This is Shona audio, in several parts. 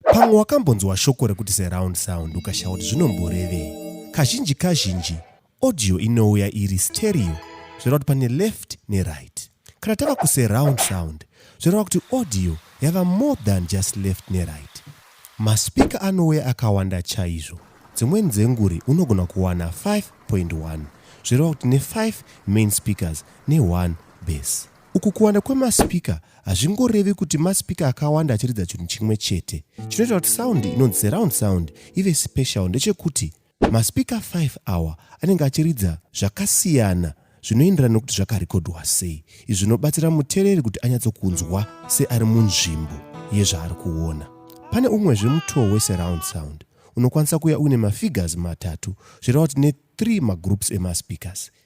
Pamwe wakambonzwa shoko rekuti surround sound ukashaya kuti zvinomborevei. Kazhinji kazhinji audio inouya iri stereo zvoreva kuti pane left neright. Kana tava kusurround sound zvoreva kuti audio yava more than just left neright. Maspika anouya akawanda chaizvo. Dzimweni dzenguri unogona kuwana 5.1 zvoreva kuti ne5 main speakers ne1 bass. Uku kuwanda kwemaspeaker hazvingorevi kuti maspeaker akawanda achiridza chinhu chimwe chete. Chinoita kuti sound inonzi surround sound ive special ndechekuti maspeaker 5 awa anenge achiridza zvakasiyana zvinoenderana nokuti zvakarekodhwa sei izvi zvinobatsira mutereri kuti anyatsokunzwa seari munzvimbo yezvaari kuona pane umwezve mutoo wesurround sound unokwanisa kuya uine mafigures matatu zvireva kuti ne3 magroups emaspeakers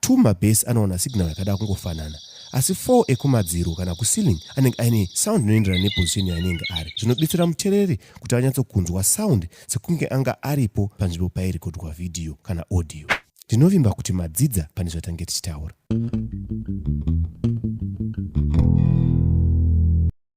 2 mabase anowana signal yakada kungofanana asi 4 ekumadziro kana kuceiling anenge aine sound inoenderana neposition yaanenge ari zvinobetsera mutereri kuti anyatsokunzwa sound sekunge anga aripo panzvimbo pairekodwa vhidhiyo kana audio ndinovimba kuti madzidza pane zvatange tichitaura